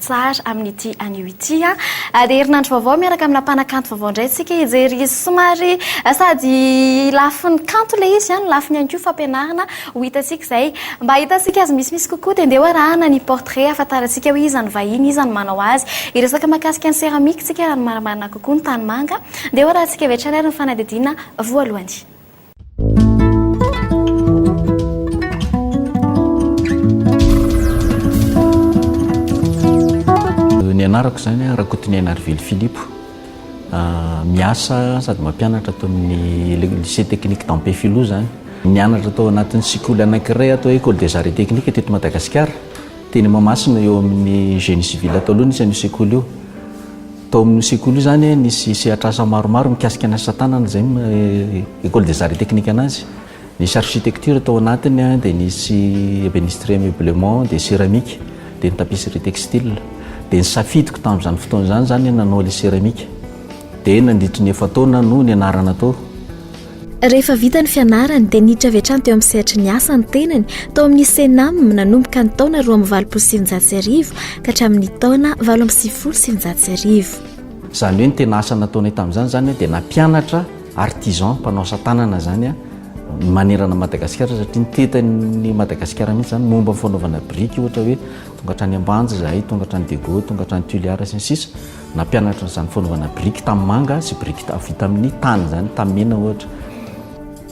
Tsara amin'ity anio ity a. Ary herinandro vaovao miaraka amina mpanakanto vaovao indray isika hijery izy somary sady lafiny kanto ilay izy a, ny lafiny ihany koa fampianarana ho hitantsika izay. Mba hahitantsika azy misimisy kokoa dia andeha ho arahana ny portrait hahafantarantsika hoe iza ny vahiny, iza no manao azy. Hiresaka mahakasika ny céramique isika raha ny marimarina kokoa ny tanimanga. Andeha ho arahantsika avy hatrany ary ny fanadihadiana voalohany. Ny anarako izany Rakotonena Arivelo Philippe. Ah, miasa sady mampianatra ato amin'ny lycée technique d'Ampefiloha izany. Nianatra tao anatin'ny sekoly anankiray atao hoe Ecole des Arts et Techniques teto Madagasikara. Teny Mahamasina eo amin'ny Génie Civil tao aloha nisy an'io sekoly io. Tao amin'io sekoly io izany nisy sehatr'asa maromaro mikasika ny asa tanana izay ny Ecole des Arts et Techniques anazy. Nisy architecture tao anatiny, dia nisy ebénisterie meublement, dia céramique, dia ny tapisserie textile. Dia ny safidiko tamin'izany fotoana izany izany ny hanao ilay céramique. Dia nandritry ny efa-taona no nianarana tao. Rehefa vita ny fianarany dia niditra avy hatrany teo amin'ny sehatry ny asa ny tenany tao amin'ny Cenam nanomboka ny taona roa amby valopolo sy sivinjato sy arivo ka hatramin'ny taona valo amby sivifolo sy sivinjato sy arivo. Izany hoe ny tena asa nataonay tamin'izany izany dia nampianatra artisan, mpanao asa tanana izany manerana an'i Madagasikara satria ny tetin'i Madagasikara mihitsy izany momba ny fanaovana biriky ohatra hoe tonga hatrany Ambanja izahay, tonga hatrany Dego, tonga hatrany Tuliar sy ny sisa. Nampianatra izany fanaovana biriky tanimanga sy biriky vita amin'ny tany izany, tamena ohatra.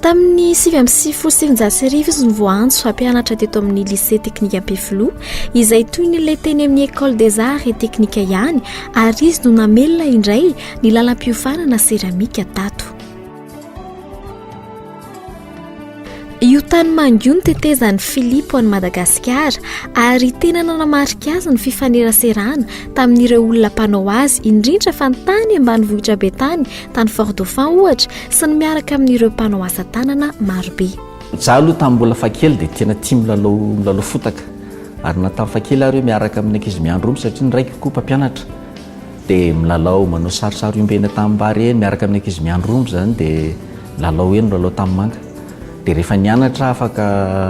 Tamin'ny sivy amby sivifolo sy eninjato sy arivo izy no voaantso hampianatra teto amin'ny lycée teknika Ampefiloha, izay toy ny ilay teny amin'ny École des Arts et Techniques ihany, ary izy no namelona indray ny lalam-piofanana seramika tato. Io tany mangy io no tetezan'i Filipo an'i Madagasikara ary tena nanamarika azy ny fifaneraserana tamin'ireo olona mpanao azy indrindra fa ny tany ambanivohitra be tany, tany Fort Dauphin ohatra, sy ny miaraka amin'ireo mpanao asa tanana marobe. Izaho aloha tamin'ny mbola fakely dia tena tia milalao milalao fotaka ary na tamin'ny fakely ary hoe miaraka amin'ny ankizy miandry omby satria ny raiko koa mpampianatra. dia milalao manao sarisary omby eny an-tanimbary eny miaraka amin'ny ankizy miandry omby izany dia milalao eny milalao tanimanga dia rehefa nianatra afaka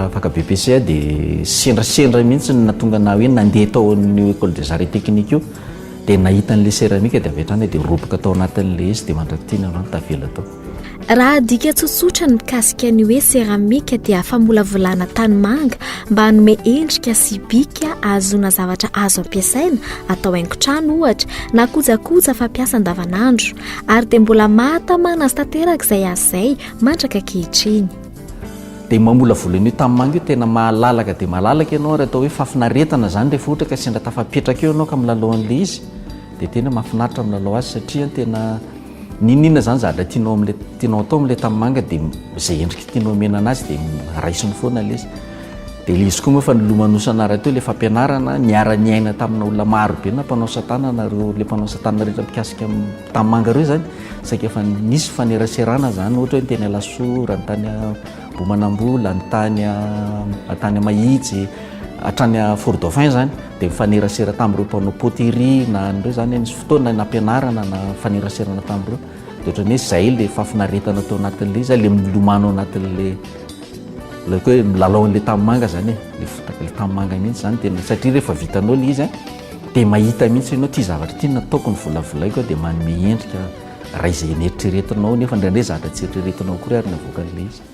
afaka BPC aho dia sendrasendra mihitsy no nahatonga na hoe nandeha tao amin'ny école des arts et techniques io dia nahita an'ilay céramique dia avy hatrany aho dia roboka tao anatin'ilay izy dia mandrak'ity ny androany tavela tao Raha adika tsotsotra ny mikasika ny hoe seramika dia famolavolana tanimanga mba hanome endrika sy bika ahazoana zavatra azo ampiasaina atao haingon-trano ohatra na kojakoja fampiasa andavanandro ary dia mbola mahatamana azy tanteraka izay azy izay mandraka ankehitriny. Dia mamolavola an'io tanimanga io tena malalaka dia malalaka ianao ary atao hoe fahafinaretana izany rehefa ohatra ka sendra tafapetraka eo ianao ka milalao an'ilay izy dia tena mahafinaritra milalao azy satria tena N'inon'inona izany zavatra tianao amin'ilay tianao atao amin'ilay tanimanga dia izay endrika tianao omena anazy dia raisiny foana ilay izy. Dia ilay izy koa moa efa nilomanosana rahateo ilay fampianarana, niara-niaina tamina olona marobe na mpanao asa tanana ireo ilay mpanao asa tanana rehetra mikasika ny tanimanga ireo izany saika efa nisy faneraserana izany ohatra hoe ny teny Alasora, ny tany Ambohimanambola, ny tany tany Mahitsy hatrany Fort Dauphin izany. dia mifanerasera tamin'ireo mpanao poterie na an'ireo zany nisy fotoana nampianarana na mifaneraserana tamin'ireo dia ohatran'ny hoe izay le fahafinaretana tao anatin'le izay le milomano anatin'le le hoe milalao an'le tanimanga zany e le fotaka le tanimanga mihitsy zany tena satria rehefa vitanao le izy a dia mahita mihitsy ianao ity zavatra ity nataoko ny volavolaiko dia manome endrika raha izay neritreretinao nefa indraindray zavatra tsy eritreretinao akory ary navoakan'le izy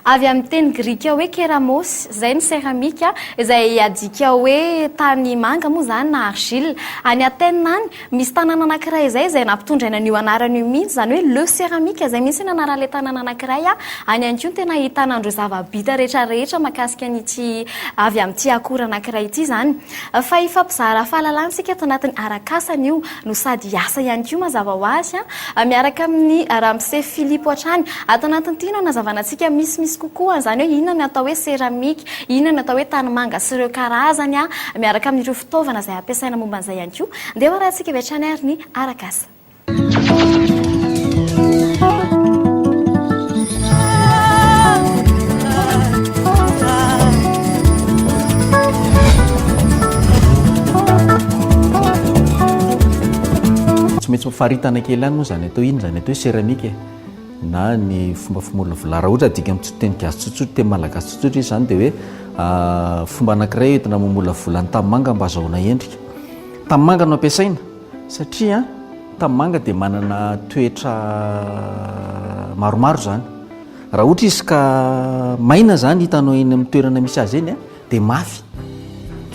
Avy amin'ny teny grika hoe keramos, izay ny seramika, izay adika hoe tany manga moa izany na argile. Any Athènes any, misy tanàna anankiray izay, izay nampitondraina an'io anarana io mihitsy, izany hoe Le Ceramique, izay mihitsy no anaran'ilay tanàna anankiray. Any ihany koa no tena ahitana an'ireo zava-bita rehetra rehetra mahakasika an'ity avy amin'ity akora anankiray ity izany. Fa hifampizara fahalalana isika ato anatin'ny arak'asa anio. no sady hiasa ihany koa mazava ho azy, miaraka amin'i Ramose Filipo hatrany. Ato anatin'ity no hanazavana antsika misimisy kokoa an'izany hoe inona ny atao hoe seramika, inona ny atao hoe tanimanga sy ireo karazany, miaraka amin'ireo fitaovana izay ampiasaina momba an'izay ihany koa. Ndeha ho arahintsika avy hatrany ary ny arak'asa. tsy maintsy mifaritana kely any moa zany atao ino zany atao hoe céramique na ny fomba fimorona vilard raha ohatra adika amin'ny teny gasy tsotsotra teny malagasy tsotsotra izy zany dia hoe ah, fomba anankiray entina mamolavola ny tanimanga mba azahoana endrika tanimanga no ampiasaina Satria tanimanga dia manana toetra maromaro izany. Raha ohatra izy ka maina izany hitanao eny amin'ny toerana misy azy eny dia mafy.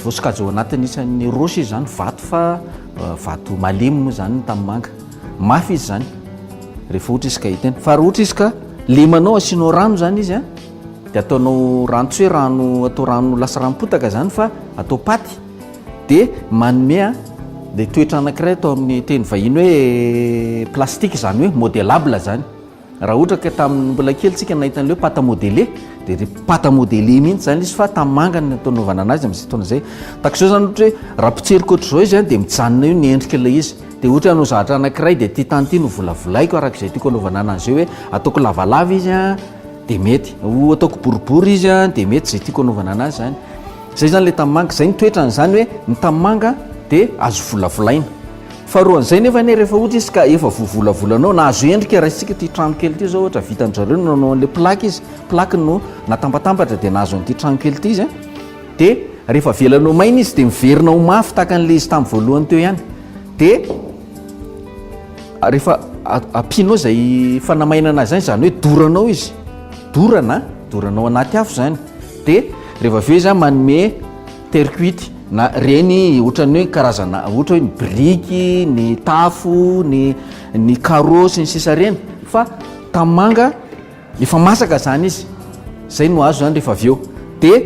Vao sokajy ao anatin'ny isan'ny roche izy izany, vato fa vato malemy moa izany ny tanimanga. Mafy izy izany rehefa ohatra izy ka hita eny. Fa raha ohatra izy ka lemanao asianao rano izany izy dia ataonao rano tsy hoe rano atao rano lasa ranom-potaka izany fa atao paty. dia manome ilay toetra anankiray atao amin'ny teny vahiny hoe plastique izany hoe modelable izany raha ohatra ka tamin'ny mbola kely tsika nahita an'ileo pata modele dia ry pata modele mihitsy izany izy fa tamangany ny atao novana anazy amin'izay taona izay takizao izany ohatra hoe raha mpitseriko ohatr'izao izy any dia mijanona io ny endrika ilay izy dia ohatra hanao zavatra anankiray dia ity tany ity no volavolaiko araka izay tiako anaovana anazy eo hoe ataoko lavalava izy an dia mety ho ataoko boribory izy an dia mety izay tiako anaovana anazy izany Zay zany le tamanga, zay ny toetrany, zany hoe ny tamanga de azo volavolaina. Faharoa an'izay nefa anie rehefa ohatra izy ka efa voavolavolanao na azo endrika raisintsika ity trano kely ity zao ohatra vitan-dry zareo no nanao an'le plaque izy, plaque no natambatambatra de nahazo an'ity trano kely ity izy a, de rehefa avelany ho maina izy de miverina ho mafy tahaka an'le izy tamin'ny voalohany teo ihany, de rehefa ampianao zay fanamainana azy zany zany hoe doranao izy, dorana a, doranao anaty afo zany. Dia rehefa avy eo izy manome terre cuite na ireny ohatran'ny hoe karazana ohatra hoe ny biriky, ny tafo, ny ny carreaux sy ny sisa ireny fa tanimanga efa masaka izany izy, izay no azo izany rehefa avy eo dia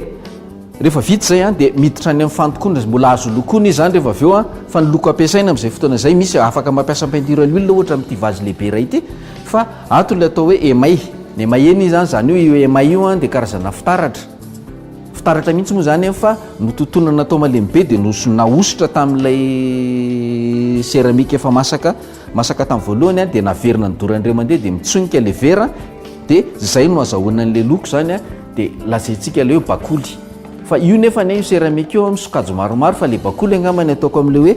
rehefa vita izay an dia miditra any amin'ny fandokoana, mbola azo lokoina izy izany rehefa avy eo an, fa ny loko ampiasaina amin'izay fotoana izay misy afaka mampiasa peinture à l'huile ohatra amin'ity vazy lehibe iray ity. Fa ato ilay atao hoe emay, ny email izany, izany hoe io emay io dia karazana fitaratra, fitaratra mihitsy moa izany fa notontonana atao malemy be dia nos- nahosotra tamin'ilay céramique efa masaka, masaka tamin'ny voalohany dia naverina nidora indray mandeha dia mitsonika ilay vera dia izay no azahoana an'ilay loko izany a, dia lazaintsika ilay hoe bakoly, fa io nefany a io céramique io amin'ny sokajy maromaro fa ilay bakoly angamba ny ataoko amin'ilay hoe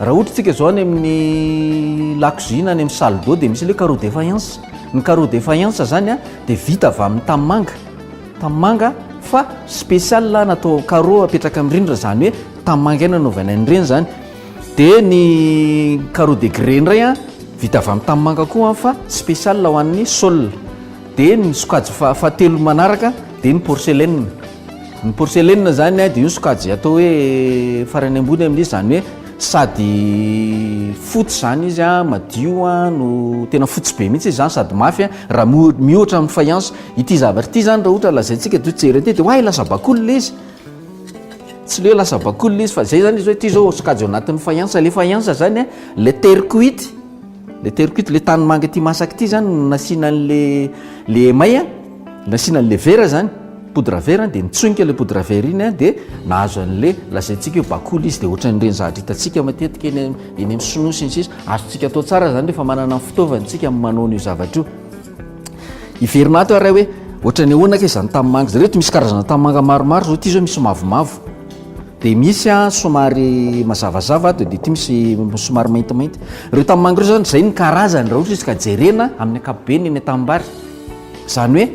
Raha ohatra tsika zao any amin'ny lakozia na any amin'ny salle d'eau dia misy ilay carreau de faïence. Ny carreau de faïence zany a dia vita avy amin'ny tanimanga. Tanimanga fa spécial natao carreau apetraka amin'ny rindrina zany hoe tanimanga ihany anaovana an'ireny zany. Dia ny carreau de grès indray a vita avy amin'ny tanimanga koa fa spécial ho an'ny sol. Dia ny sokajy fa- fahatelo manaraka dia ny porcelaine. Ny porcelaine zany dia io sokajy atao hoe farany ambony amin'izy izany hoe sady fotsy izany izy a, madio a, no tena fotsy be mihitsy izany sady mafy a, raha mihoatra amin'ny faïence. Ity zavatra ity izany raha ohatra lazaintsika dia jery aty dia oay lasa bakoly ilay izy, tsy ilay hoe lasa bakoly ilay izy fa izay izany izy hoe ity izao sokajy ao anatin'ny faïence, ilay faïence izany a, ilay terre cuite. Le terokito le tany manga ity masaka ity zany no nasiana an'le le emay a, nasiana an'le vera zany, poudre vert a, de nitsonika le poudre vert iny a de nahazo an'le lazaintsika hoe bakoly izy de ohatran'ireny zavatra hitantsika matetika eny eny amin'ny sinoa sy ny sisa, azontsika atao tsara zany rehefa manana ny fitaovana isika amin'ny manao an'io zavatra io. Hiverina ato iarahay hoe ohatran'ny ahoana kay izany tanimanga izany. Ireto misy karazana tanimanga maromaro izao, ity izao misy mavomavo. Dia misy a somary mazavazava ato, dia ity misy somary maintimainty. Ireo tanimanga ireo izany izay ny karazany raha ohatra izy ka jerena amin'ny ankapobeny eny an-tanimbary. Izany hoe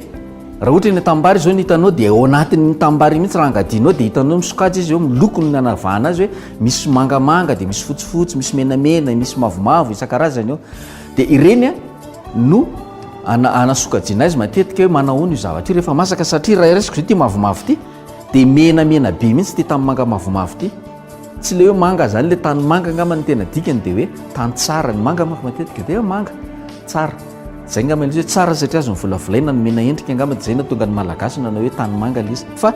raha ohatra eny an-tanimbary izao ny hitanao dia ao anatin'ny tanimbary mihitsy raha angadianao dia hitanao misokajy izy eo amin'ny lokony ny anavahana azy hoe misy mangamanga dia misy fotsifotsy, misy menamena, misy mavomavo isan-karazany eo. Dia ireny no anasokajiana azy matetika hoe manao ahoana io zavatra io rehefa masaka satria raha raisiko izao ity mavomavo ity dia menamena be mihitsy ity tanimanga mavomavo ity. Tsy ilay hoe manga izany ilay tanimanga angamba ny tena dikany dia hoe tany tsara. Ny manga manko matetika dia manga tsara. Izay angamba ilay izy hoe tsara satria azon'ny volavolaina ny mena endrika angamba dia izay no nahatonga ny Malagasy nanao hoe tanimanga ilay izy. Fa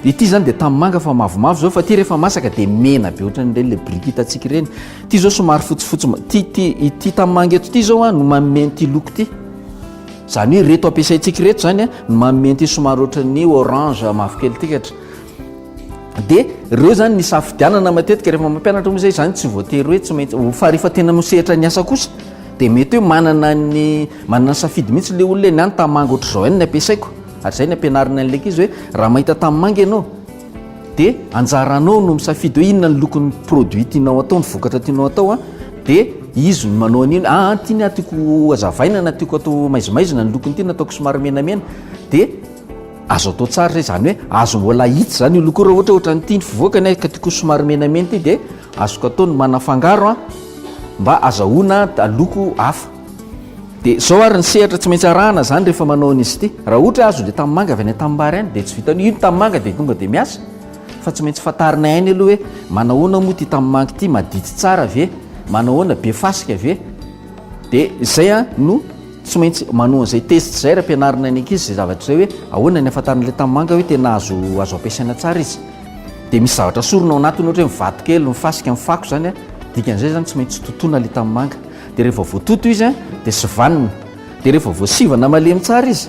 Ity zany dia tanimanga fa mavomavo zao fa ity rehefa masaka dia mena be ohatran'ny ireny ilay biriky hitantsika ireny. Ity zao somary fotsifotsy ma- ity ity ity tanimanga eto ity zao a no manome an'ity loko ity. Zany hoe ireto ampiasaintsika ireto zany a no manome an'ity somary ohatran'ny orange mavokely ity katra. Dia ireo zany ny safidianana matetika rehefa mampianatra moa zay zany tsy voatery hoe tsy maintsy fa rehefa tena no sehatra ny asa kosa dia mety hoe manana ny manana ny safidy mihitsy ilay olona hoe ny ahy ny tanimanga ohatr'izao ihany no ampiasaiko. Ary izay ny ampianariny an'ilay ankizy hoe raha mahita tanimanga ianao dia anjaranao no misafidy hoe inona ny lokon'ny produit tianao atao, ny vokatra tianao atao a, dia izy no manao an'iny, ah ah ity ny ahy tiako hazavaina na tiako atao maizimaizina ny lokon'ity na ataoko somary menamena, dia azo atao tsara izay, izany hoe azo mbola ahitsy izany io loko io raha ohatra hoe ohatran'ity ny fivoaka ny ahy ka tiako somary menamena ity dia azoko atao ny manafangaro a mba azahoana loko hafa. Dia zao ary ny sehatra tsy maintsy arahana zany rehefa manao an'izy ity. Raha ohatra azo le tanimanga avy any an-tanimbary any dia tsy vitan'io. Io ny tanimanga dia tonga dia miasa fa tsy maintsy fantarinay any aloha hoe manahoana moa ity tanimanga ity, madity tsara ve, manahoana, be fasika ve. Dia izay a no tsy maintsy manao an'izay test izay raha ampianarina ny ankizy izay zavatra izay hoe ahoana ny ahafantarana ilay tanimanga hoe tena azo azo ampiasaina tsara izy. Dia misy zavatra sorona ao anatiny ohatra hoe ny vato kely, ny fasika, ny fako izany a, dikan'izay izany tsy maintsy totoina ilay tanimanga. Dia rehefa voatoto izy dia sivanina. Dia rehefa voasivana malemy tsara izy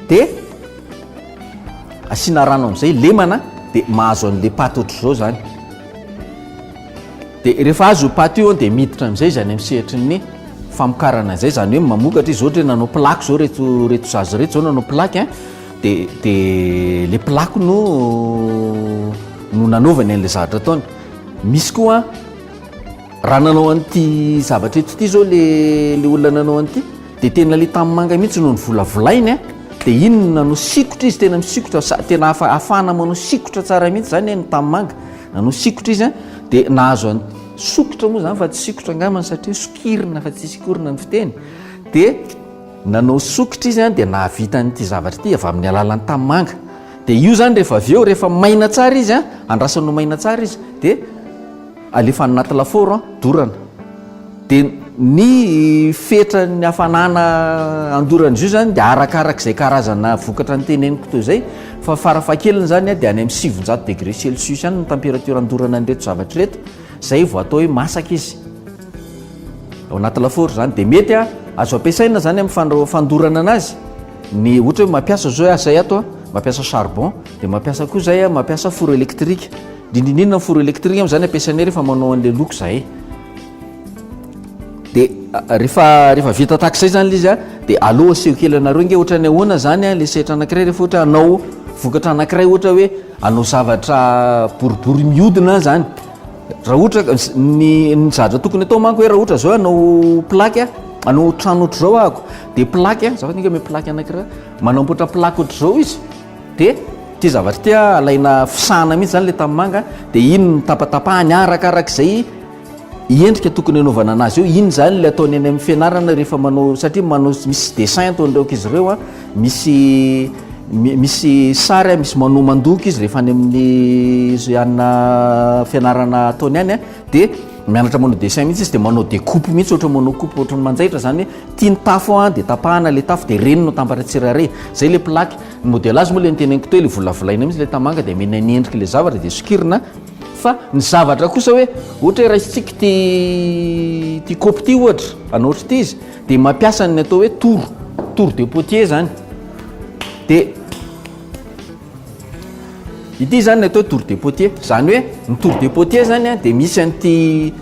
dia asiana rano amin'izay, lemana dia mahazo an'ilay paty ohatr'izao izany. Dia rehefa azo io paty io dia miditra amin'izay izy any amin'ny sehatry ny famokarana izay, izany hoe mamokatra izy, ohatra hoe nanao plaque izao ireto ireto zaza ireto izao nanao plaque a, dia dia ilay plaque no no nanaovany an'ilay zavatra ataony. Misy koa. Raha nanao an'ity zavatra eto ity zao le le olona nanao an'ity dia tena le tanimanga mihitsy no nivolavolainy a dia iny no nanao sikotra izy tena misikotra sa tena afa afahana manao sikotra tsara mihitsy zany a ny tanimanga nanao sikotra izy a dia nahazo an'i sokitra moa zany fa tsy sikotra angambany satria sokirina fa tsy sikorina ny fiteny dia nanao sokitra izy a dia nahavita an'ity zavatra ity avy amin'ny alalan'ny tanimanga dia io zany rehefa avy eo rehefa maina tsara izy a andrasana ho maina tsara izy dia Alefa any anaty lafaoro an, dorana. Dia ny fetran'ny hafanana andoran'izy io izany dia arakarak'izay karazana vokatra noteneniko toy izay fa farafahakeliny izany dia any amin'ny sivinjato degré celsius any ny température andorana an'ireto zavatra ireto, izay vao atao hoe masaka izy. Ao anaty lafaoro izany dia mety a, azo ampiasaina izany amin'ny fandraho- fandorana anazy ny ohatra hoe mampiasa izao hoe asay ato a, mampiasa charbon, dia mampiasa koa izay a, mampiasa four électrique. Dindindinina ny four électrique moa zany ampiasainay rehefa manao an'ilay look zahay. Dia rehefa rehefa vita tahaka izay zany ilay izy a, dia aleo aseho kely anareo ange ohatra ny ahoana zany ilay sehatra anankiray rehefa ohatra hanao vokatra anankiray ohatra hoe hanao zavatra boribory mihodina zany. Raha ohatra ka s- ny ny zavatra tokony atao manko hoe raha ohatra zao hoe hanao plaque a, hanao trano ohatr'izao ahako, dia plaque a, za fa tonga hoe plaque anankiray, manamboatra plaque ohatr'izao izy. Dia ity zavatra ity a, alaina fisahana mihitsy izany ilay tanimanga, dia iny no tapatapahany arakaraka izay endrika tokony hanaovana an'azy eo, iny izany ilay ataony any amin'ny fianarana rehefa manao, satria manao misy dessin ataony ireo ankizy ireo a, misy mi- misy sary a, misy manao mandoko izy rehefa any amin'ny izay anà fianarana ataony any a, dia mianatra manao dessin mihitsy izy, dia manao découpe mihitsy, ohatra hoe manao coupe ohatra ny manjaitra izany hoe. Tia ny tafo an, dia tapahana ilay tafo dia reny no atambatra tsirairay. Izay ilay plaque. Ny modelage moa ilay noteneniko teo, ilay volavolaina mihitsy ilay tamanga dia amena ny endrik'ilay zavatra dia sokirina. Fa ny zavatra kosa hoe ohatra hoe raisintsika ity ity kaopy ity ohatra, hanao ohatr'ity izy dia mampiasa ny atao hoe tour, tour de potier izany. Dia ity izany ny atao hoe tour de potier. Izany hoe ny tour de potier izany dia misy an'ity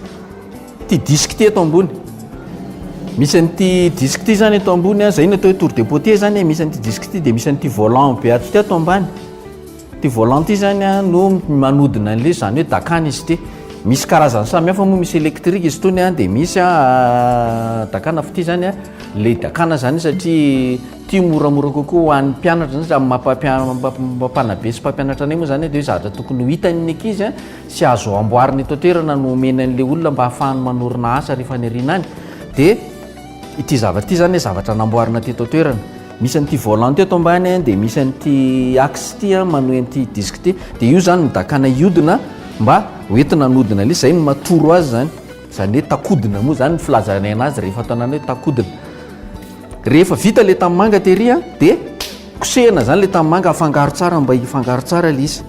Ity disque ity eto ambony. Misy an'ity disque ity zany eto ambony a, zay no atao hoe tour de potier zany e, misy an'ity disque ity dia misy an'ity volant be ato ity ato ambany. Ity volant ity zany a no manodina an'ilay zany hoe dakana izy ity. Misy karazany samy hafa moa, misy électrique izy itony a, dia misy a dakana fitia zany a, ilay dakana zany satria ity moramora kokoa ho an'ny mpianatra, amin'ny maha mpampianatra be sy mpampianatra anay moa zany dia hoe zavatra tokony ho hitan'ny ankizy a. sy azo amboarina eto an-toerana no omeny an'ilay olona mba hahafahany manorina asa ary faniriana any dia ity zavatra ity izany zavatra namboarina teto an-toerana misy an'ity volant teto ambany dia misy an'ity axe ity manohy an'ity disque ity dia io izany midakana hiodina mba hoentina hanodina ilay izay no matoro azy izany izany hoe takodina moa izany ny filazana anazy rehefa atao anareo hoe takodina rehefa vita ilay tanimanga tery dia kosehina izany ilay tanimanga afangaro tsara mba hifangaro tsara ilay izy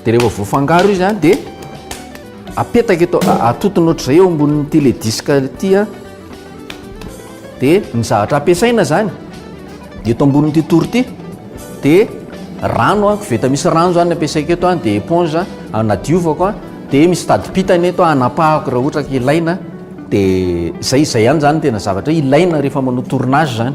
Dia rehefa voafangaro izy an dia apetaka eto atotona ohatr'izay eo ambonin'ny ity le disque ity an dia ny zavatra ampiasaina zany eto ambonin'ity tory ity dia rano an koveta misy rano zany ampiasaiko eto an dia éponge anadiovako an dia misy tadipitana eto anapahako raha ohatra ka ilaina dia zay zay ihany zany tena zavatra ilaina rehefa manao tournage zany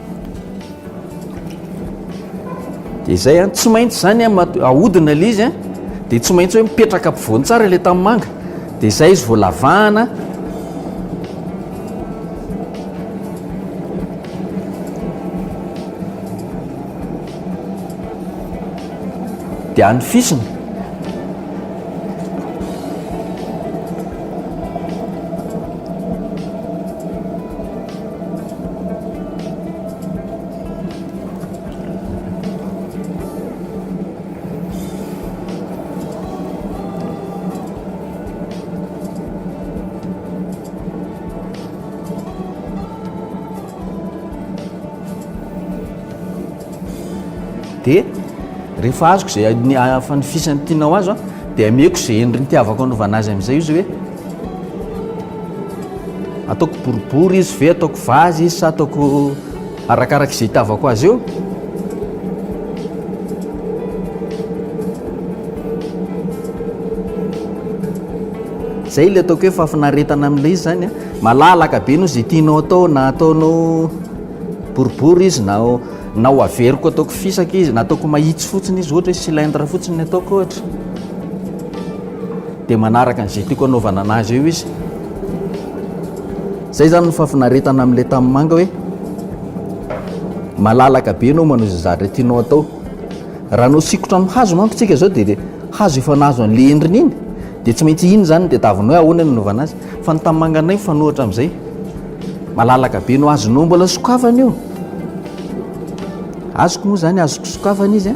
Dia izay an, tsy maintsy izany an, ahodina ilay izy an, dia tsy maintsy hoe mipetraka ampovoany tsara ilay tanimanga, dia izay izy vao lavahana. Dia anofisina. dia rehefa azoko izay ny fanofisany tianao azo dia ameko izay endriny tiavako anovana azy amin'izay izy hoe Ataoko boribory izy ve ataoko vazy izy sa ataoko arakaraka izay hitavako azy eo zay le ataoko hoe fafinaretana amin'ilay izy zany a malalaka be no zay tianao atao na ataonao boribory izy na na ho averiko ataoko fisaka izy na ataoko mahitsy fotsiny izy ohatra hoe cylindre fotsiny ataoko ohatra dia manaraka an'izay tiako hanaovana anazy eo izy zay zany ny fafinaretana amin'ilay tamin'ny manga hoe malalaka be anao manao izay zahatra tianao atao raha nao sikotra amin'ny hazo manko tsika zao de hazo efa nahazo an'le endriny iny de tsy maintsy iny zany de tavina hoe ahoana nanaovana azy fa ny tamin'ny manga anay fanohatra am'izay malalaka be no azonao mbola sokafana io azoko moa zany azoko sokafana izy a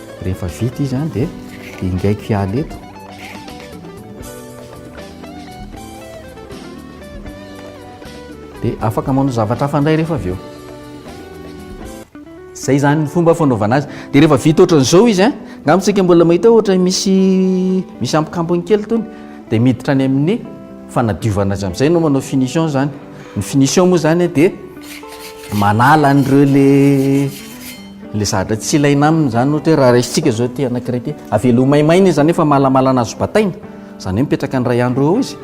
Rehefa vita izy dia ingaiko hiala eto. Dia afaka manao zavatra hafa indray rehefa avy eo. Izay izany ny fomba fanaovana azy. Dia rehefa vita ohatran'izao izy, nga amintsika mbola mahita ohatra misy misy ampikampony kely tony, dia miditra any amin'ny fanadiovana azy amin'izay no manao finition izany. Ny finition moa izany dia manala an'ireo le Ilay zavatra tsy ilaina aminy izany ohatra hoe raha raisintsika izao ity anankiray ity, avela ho maimaina izy izany efa malamala nahazo bataina, izany hoe mipetraka ny iray andro eo izy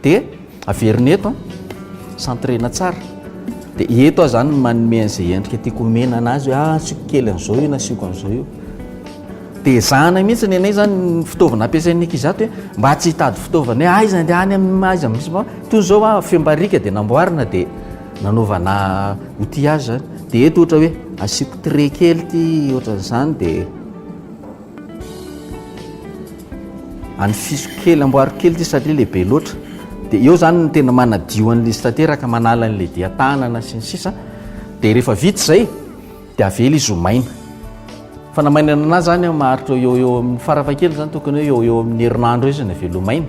dia averina eto an, centrena tsara dia eto aho izany manome an'izay endrika tiako homena anazy hoe ah asiako kely an'izao io na asiako an'izao io dia ezahana mihitsy ny anay izany ny fitaovana ampiasain'ny ankizy ato hoe mba tsy hitady fitaovana hoe aiza andeha any amin'ny aiza misy fa toy izao ah fehim-bariaka dia namboarina dia nanaovana outil azy dia eto ohatra hoe asiako trait kely ity ohatran'izany dia anifisiko kely amboariko kely ity satria lehibe loatra dia eo zany ny tena manadio an'ilay izy tanteraka manala an'ilay dia tanana sy ny sisa dia rehefa vita izay dia avela izy ho maina. Fa na mainana na izany an, maharitra eo eo amin'ny farafahakeliny izany tokony hoe eo eo amin'ny herinandro eo izy no avela ho maina.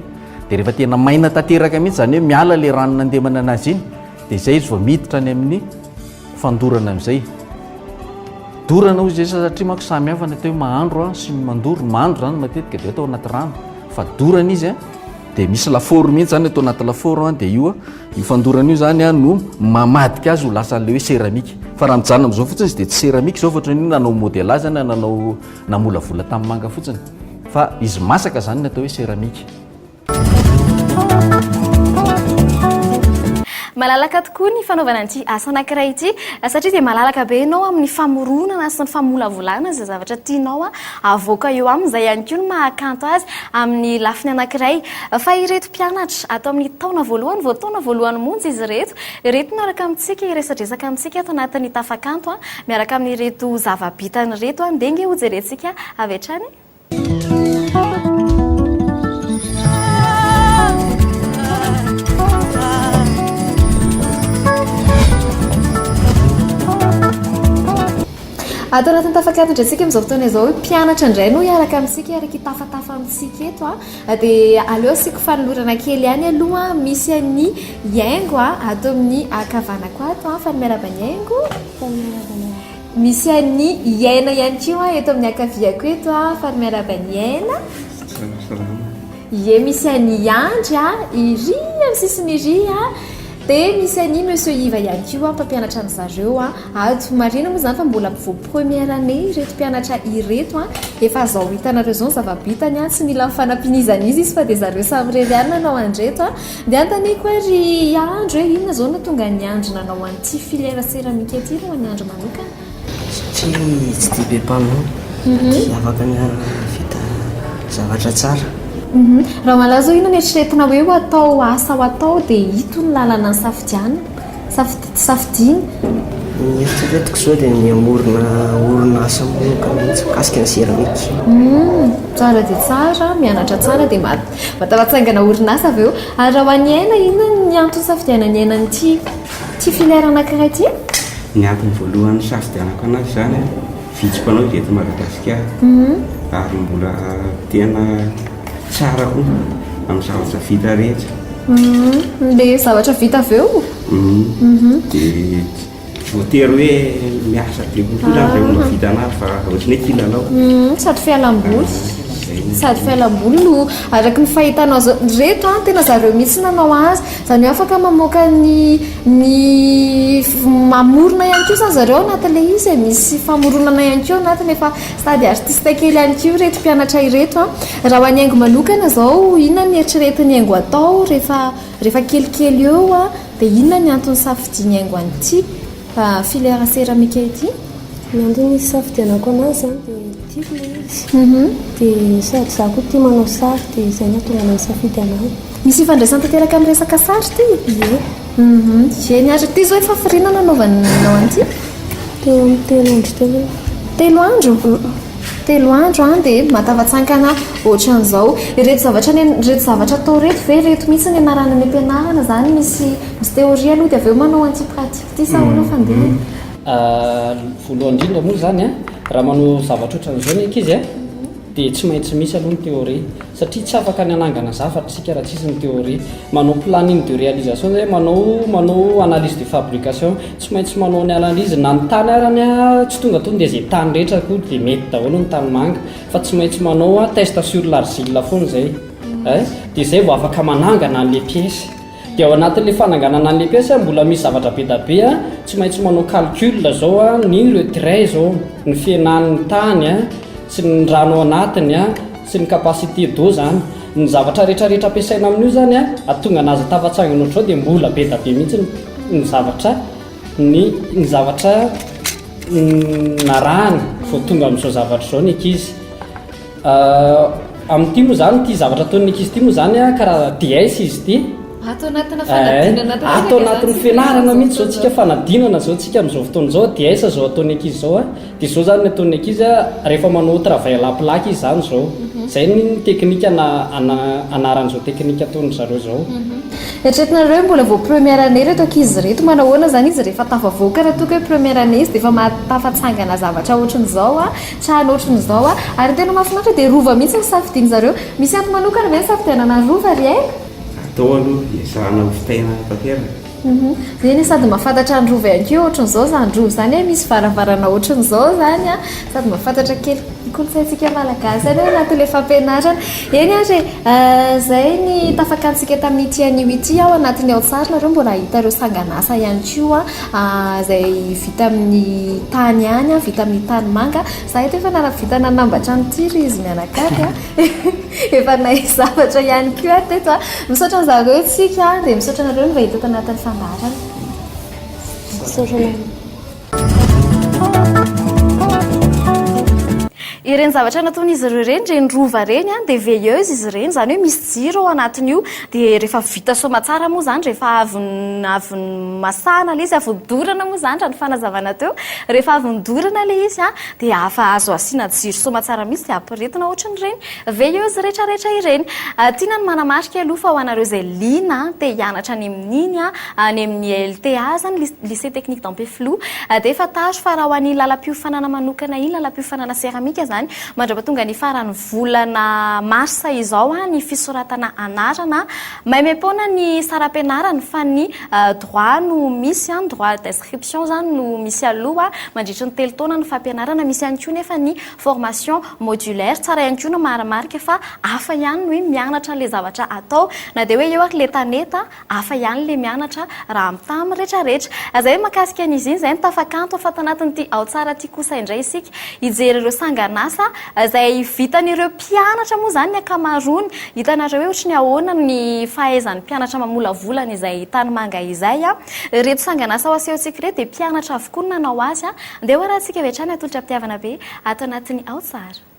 Dia rehefa tena maina tanteraka mihitsy, izany hoe miala ilay rano nandemana an'azy iny, dia izay izy vao miditra any amin'ny fandorana amin'izay. Dorana hoy izy izay satria manko samy hafa ny atao hoe mahandro an, sy ny mandoro. Ny mahandro izany matetika dia atao anaty rano, fa dorana izy an, dia misy lafaoro mihitsy izany atao anaty lafaoro an, dia io an, Io fandorana io zany a no mamadika azy ho lasa an'ilay hoe céramique. Fa raha mijanona amin'izao fotsiny izy dia tsy céramique izao fa ohatran'ny hoe nanao modelage na nanao namolavola tamin'ny manga fotsiny. Fa izy masaka izany no atao hoe céramique. Malalaka tokoa ny fanaovana an'ity asa anankiray ity satria dia malalaka be ianao amin'ny famoronana sy ny famolavolana izay zavatra tianao havoaka eo aminy. Izay ihany koa no maha kanto azy amin'ny lafiny anankiray. Fa ireto Mpianatra, ato amin'ny taona voalohany vao taona voalohany monja izy ireto. Ireto no araka amintsika hiresadresaka amintsika ato anatin'ny tafakanto miaraka amin'ireto zava-bitany ireto. Dia ange hojerentsika avy hatrany e! Ato anatin'ny tafakanto indray isika amin'izao fotoana izao. Mpianatra indray no hiaraka amintsika hiaraka hitafatafa amintsika eto. Dia aleo asiako fanolorana kely ihany aloha misy an'i Yaingo ato amin'ny ankavanako ato an, fa ny miarahaba an'i Yaingo. Misy an'i Iaina ihany koa eto amin'ny ankaviako eto an, fa ny miarahaba an'i Iaina. Ie misy an'i Andry iry amin'ny sisiny iry an. De misy an'i Monsieur Iva ihany koa mpampianatra an'zareo ato. Marihina moa izany fa mbola vao première année ireto mpianatra ireto an! Efa zao hitanareo izao ny zava-bitany an! Tsy mila ny fanampian'izan'iza izy fa dia zareo samy irery ihany nanao an'ireto an! Dia anontaniako ary i Andry hoe inona izao no nahatonga an'i Andry nanao an'ity filière céramique ity alohan'ny Andry manokana? Satria tsy dia be mpanao dia afaka miara-mahavita zavatra tsara. Raha ho anao izao inona no eritreretina hoe ho atao ho asa ho atao dia ito no lalana safidianina, safidiana? Ny eritreretiko izao dia ny hamorona orinasa manokana mihitsy mikasika ny seramika. Tsara dia tsara, mianatra tsara dia mataho hatsangana orinasa avy eo. Ary raha ho an'i Aina, inona no antony safidianan'i Aina an'ity? Ity filaire anankiray ity? Ny antony voalohany nisafidianako an'azy izany an, vitsy mpanao izy eto Madagasikara, ary mbola tena tsara koa amin'ny zavatra vita rehetra. Ilay zavatra vita avy eo? Dia tsy voatery hoe miasa be kokoa izany vao mahavita an'azy fa ohatran'ny hoe kilalao. Sady fialam-boly, sady fialam-boly no araka ny fahitanao izao. Ireto an, tena zareo mihitsy nanao azy. Izany hoe afaka mamoaka ny ny mamorona ihany koa izany zareo anatin'ilay izy e, misy famoronana ihany koa ao anatiny, efa sady artiste kely ihany koa ireto mpianatra ireto an! Raha ho an'ny haingo manokana izao inona no eritreretiny haingo hatao rehefa rehefa kelikely eo an? dia inona ny antony safidiany haingo an'ity filière céramique ity? Ny antony isafidianako an'azy izany dia tiako ilay izy dia sady izaho koa tia manao sary dia izay no nahatonga anà nisafidy anà. Misy ifandraisany tanteraka amin'ny resaka sary ity, ie. Hum-hum. Eny ary, ity izao efa firiana nanaovanao an'ity? Teo amin'ny telo andro teo eo. Telo andro? Telo andro an, dia mahatafatsankana ohatran'izao. Ireto zavatra anie, ireto zavatra atao ireto ve, ireto mihitsy ny anarana any am-pianarana, izany misy misy théorie aloha dia avy eo manao an'ity pratique ity sa ahoana fandinana? Voalohany indrindra moa izany an, raha manao zavatra ohatran'izao ny ankizy an, dia tsy maintsy misy aloha ny théorie. Satria tsy afaka ny hanangana zavatra isika raha tsisy ny théorie. Manao planning de réalisation izay hoe manao manao analyse de fabrication. Tsy maintsy manao ny analyse na ny tany ary ny tsy tonga tonga dia izay tany rehetra akory dia mety daholo ny tanimanga fa tsy maintsy manao test sur l'argile foana izay. Dia izay vao afaka manangana an'ilay pièce. Dia ao anatin'ilay fananganana an'ilay pièce a, mbola misy zavatra be da be a, tsy maintsy manao calcul zao a, ny retrait zao, ny fihenan'ny tany a, sy ny rano ao anatiny a, sy ny capacité d'eau zany. Ny zavatra rehetra rehetra ampiasaina amin'io zany a, hahatonga anazy tafatsangana ohatr'izao dia mbola be da be mihitsy ny ny zavatra ny ny zavatra narahana vao tonga amin'izao zavatra izao ny ankizy. Amin'ity moa izany, ity zavatra ataon'ny ankizy ity moa izany an, karaza DS izy ity. Ato anatina fanadinana ato antsika. Ato anatin'ny fianarana mihitsy izao tsika fanadinana izao tsika amin'izao fotoana izao DS izao ataon'ny ankizy izao an. Dia izao izany ny ataon'ny ankizy an, rehefa manao travail à plat izy izany izao. Izay ny teknika na anaran'izao teknika ataon'ny zareo izao. Eritreretinareo hoe mbola vao première année ireto ankizy ireto, manao ahoana izany izy rehefa tafavoaka raha toa ka hoe première année izy dia efa maha tafatsangana zavatra ohatran'izao an? Trano ohatran izao a! Ary ny tena mahafinaritra dia rova mihitsy no safidiany zareo. Misy antony manokana ve ny safidianana rova ry aina? Atao aloha, ezahana ho fitaina tanteraka. Hum, eny e, sady mahafantatra ny rova ihany koa e, ohatran izao izany rova izany e, misy varavarana ohatran izao izany a, sady mahafantatra kely kolontsaintsika malagasy any ao anatin'ilay fampianarana. Eny ary e, izay ny tafakantsintsika tamin'ity anio ity ao anatin'ny ao an-tsary nareo mbola hahita ireo sangan'asa ihany koa. izay vita amin'ny tany ihany an, vita amin'ny tany manga. Za eto efa nahavita nanambatra an'ity ry izy mianakavy an, efa nahay zavatra ihany koa aho teto an. Misaotra an'i zareo isika dia misaotra anareo mba hita eto anatin'ny fandaharana. Misaotra anareo. Ireny zavatra nataon'izy ireo ireny, ireny rova ireny dia veilleuse izy ireny, izany hoe misy jiro ao anatin'io Dia rehefa vita soamatsara moa izany, rehefa avy avy masahana ilay izy, avy nodorana moa izany raha ny fanazavana teo, rehefa avy nodorana ilay izy dia afa azo asiana jiro soamatsara mihitsy dia ampirehetina ohatran'ireny veilleuse rehetrarehetra ireny. Tiana ny manamarika aloha fa ho anareo izay liana te hianatra any amin'iny, any amin'ny LTA izany, Ly Lycée Technique d'Ampefiloha, dia fantaro fa raha ho an'iny lalam-piofanana manokana iny, lalam-piofanana seramika izany, mandrapatonga ny faran'ny volana marsa izao ny fisoratana anarana. Maimaim-poana ny saram-pianarana fa ny droit no misy, ny droit d'inscription izany no misy aloha mandritry ny telo taona ny fampianarana. Misy ihany koa nefa ny formation modulaire. Tsara ihany koa ny marimarika fa hafa ihany ny hoe mianatra ilay zavatra atao na dia hoe eo ary ilay tanety. Hafa ihany le mianatra raha mitaha amin'ny rehetra rehetra. Zay makasika ny iziny zay ny tafakanto afa tanatin'ity ao tsara ity kosa indray isika hijery ireo sanganasa zay vitan'ireo mpianatra moa zany ny akamaroany hitanareo hoe ohatry ny ahoana ny fahaizan'ny mpianatra mamolavola an'izay tanimanga izay an! Ireto sanganasa ho asehontsika ireto dia mpianatra avokoa no nanao azy an! Ndeha hoarahantsika avy hatrany atolotra am-pitiavana be ato anatin'ny ao tsara.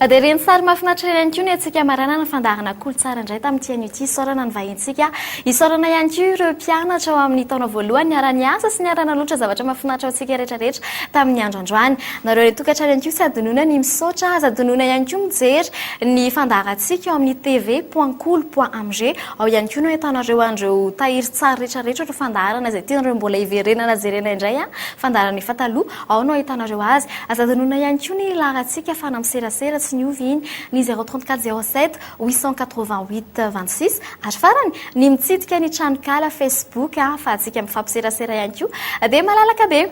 Dia ireny sary mahafinaritra ireny koa ny antsika maranana fandaharana kolontsaina indray tamin'ity anio ity isaorana ny vahintsika isaorana ihany koa ireo mpianatra ao amin'ny taona voalohany niara-niasa sy niara-nanoatra zavatra mahafinaritra antsika rehetrarehetra tamin'ny andro androany nareo ilay tokantrano ihany koa tsy adinona ny misaotra aza adinona ihany koa mijery ny fandaharantsika ao amin'ny tv point cool point amg ao ihany koa no ahitanareo an'ireo tahirin-tsary rehetrarehetra ireo fandaharana izay tianareo mbola hiverenana jerena indray an ah. Fandaharan' efa taloha, ao no ahitanareo azy. Aza adinoina ihany koa ny laharantsika fa na miserasera tsy niova iny, ny 034 07 888 26. Ary farany, ny mitsidika ny tranonkala Facebook ahafahantsika mifampiserasera ihany koa. Dia malalaka be.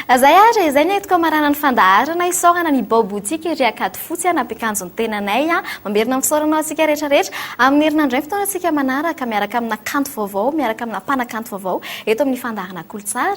Izay ary, izay ny entiko hamarana ny fandaharana. Isaorana ny Bao Boutique ery Ankadifotsy nampiakanjo ny tenanay. Mamerina ny fisaorana ho antsika rehetra rehetra. Amin'ny herinandro indray ny fotoanantsika manaraka, miaraka amina kanto vaovao, miaraka amina mpanakanto vaovao, eto amin'ny fandaharana Kolotsara.